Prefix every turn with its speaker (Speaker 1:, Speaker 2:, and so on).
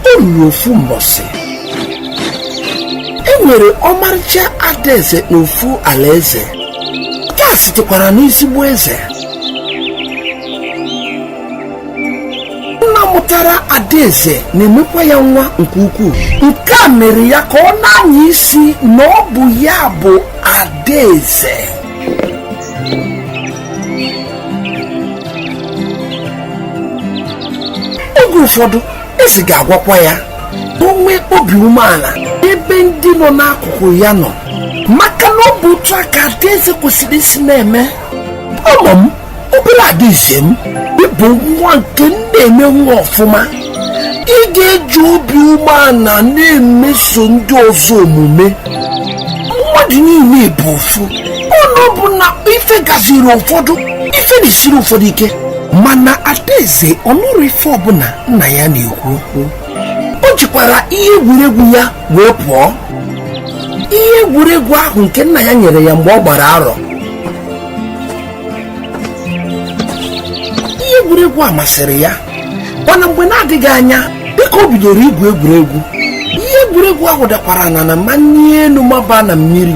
Speaker 1: o ruru ofu mbọsị e nwere ọmarịcha adaeze n'ofu alaeze ya sitekwara n'ezigbo eze nna mụtara adaeze na-emekwa ya nwa nke ukwuu nke a mere ya ka ọ na-anya isi na ọ bụ ya bụ adaeze oge ụfọdụ eze ga-agwakwa ya ka o nwee obi umeala ebe ndị nọ n'akụkụ ya nọ maka na ọ bụ otu a ka adaeze kwesịrị isi na-eme ọla m obele adaeze m ị bụ nwa nke m na-eme nwa ọfụma ị ga-eji obi umeala na-emeso ndị ọzọ omume mmadụ niile bụ ofu ọnụ bụ na ife gaziiri ụfọdụ ife na-esiri ụfọdụ ike mana adaeze ọ nụrụ ife ọbụla nna ya na-ekwu okwu o jikwara ihe egwuregwu ya wee pụọ ihe egwuregwu ahụ nke nna ya nyere ya mgbe ọ gbara arọ ihe egwuregwu a masịrị ya mana mgbe na-adịghị anya dịka o bidoro igwu egwuregwu ihe egwuregwu ahụ dakwara na n'ana manie enu maba na mmiri